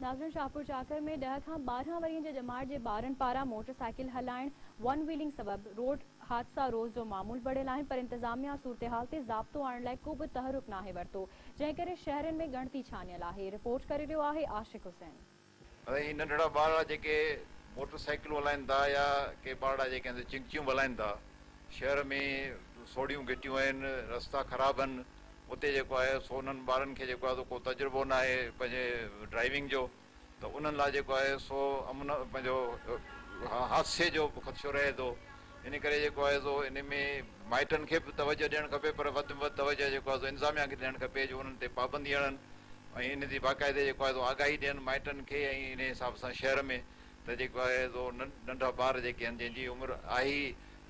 ناظرين شاهپور چاڪر ۾ ڏهه کان ٻارهن ورهين جي ڄمار جي ٻارن پاران موٽر سائيڪل هلائڻ ون ويلنگ سبب روڊ حادثا روز جو معمول بڻيل آهن پر انتظاميا صورتحال تي ضابطو آڻڻ لاء ڪوبه تحرڪ ناهي ورتو جنهن ڪري شهرين ۾ ڳڻتي ڇانيل آهي رپورٽ ڪري رهيو آهي عاشق حسين. اهي ننڍڙا ٻارڙا جيڪي موٽر سائيڪلون هلائين ٿا يا ڪي ٻارڙا جيڪي هنڌ چنگچيون به هلائين ٿا شهر ۾ سوڙهيون گهٽيون آهن رستا خراب آهن اتي جيڪو آهي سو انهن ٻارن کي جيڪو آهي سو ڪو تجربو نه آهي پنهنجي ڊرائيونگ جو ته انهن لاء جيڪو آهي سو امن پنهنجو حادثي جو به خدشو رهي ٿو ان ڪري جيڪو آهي سو ان ۾ مائٽن کي به توجه ڏيڻ کپي پر وڌ ۾ وڌ توجه جيڪو آهي سو انتظاميا کي ڏيڻ کپي جو انهن تي پابندي هڻن ۽ ان جي باقاعدي جيڪو آهي سو آگاهي ڏين مائٽن کي ۽ ان حساب سان شهر ۾ ته جيڪو آهي سو ننڍا ٻار جيڪي آهن جنهن جي عمر آهي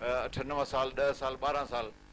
اٺ نو سال ڏهه سال ٻارهن سال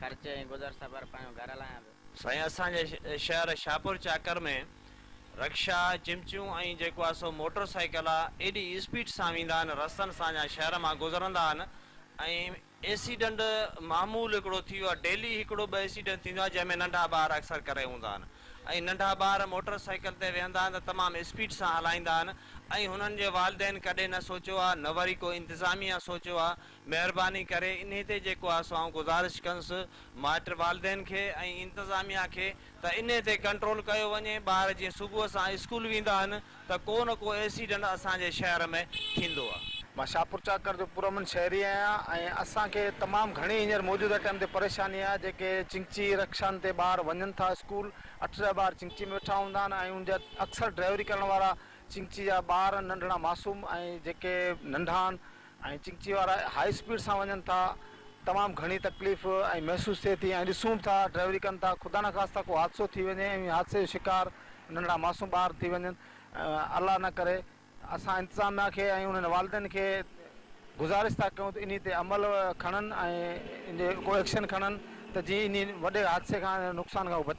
خرچ ۽ گذر سفر پنهنجو گهر هلايان پيو. سائين اسان جي شهر شاهپور چاڪر ۾ رڪشا، چمچيون ۽ جيڪو آهي سو موٽر سائيڪل آ ايڏي اسپيڊ سان ويندا آهن رستن سان جا شهر مان گذرندا آهن ۽ ايسيڊنٽ معمول هڪڙو ٿي ويو آ ڊيلي هڪڙو ٻه ايسيڊنٽ ٿيندو آ جنهن ۾ ننڍا ٻار اڪثر ڪري هوندا آهن ۽ ننڍا ٻار موٽر سائيڪل تي ويهندا آهن ته تمام اسپيڊ سان هلائيندا آهن ۽ هنن جي والدين ڪڏهن نه سوچيو آ نه وري ڪو انتظاميا سوچيو آ مهرباني ڪري انهي تي جيڪو آسو آئون گذارش ڪنس مائٽ والدين کي ۽ انتظاميا کي ته انهي تي ڪنٽرول ڪيو وڃي ٻار جيئن صبح سان اسڪول ويندا آهن ته ڪو نه ڪو ايسيڊنٽ اسان جي شهر ۾ ٿيندو آ. مان شاهپور چاڪر جو پرامن شهري آهيان ۽ اسان کي تمام گهڻي هينئر موجوده ٽائيم تي پريشاني آهي جيڪي چنگچي رڪشان تي ٻار وڃن ٿا اسڪول اٺ ڏهه ٻار چنگچي ۾ ويٺا هوندا آهن ۽ ان جا اڪثر ڊرائيوري ڪرڻ وارا چنگچي جا ٻار ننڍڙا معصوم ۽ جيڪي ننڍا آهن ۽ چڪچي وارا هائي اسپيڊ سان وڃن ٿا تمام گهڻي تڪليف ۽ محسوس ٿئي ٿي ۽ ڏسون به ٿا ڊرائيوري ڪن ٿا خدا نخواسته ڪو حادثو ٿي وڃي ۽ انهي حادثي جو شڪار ننڍڙا معصوم ٻار ٿي وڃن الله نه ڪري اسان انتظاميا کي ۽ انهن والدين کي گذارش ٿا ڪيون ته انهي تي عمل کڻن ۽ ان تي ڪو ايڪشن کڻن ته جيئن انهي وڏي حادثي کان نقصان کان هو بچائي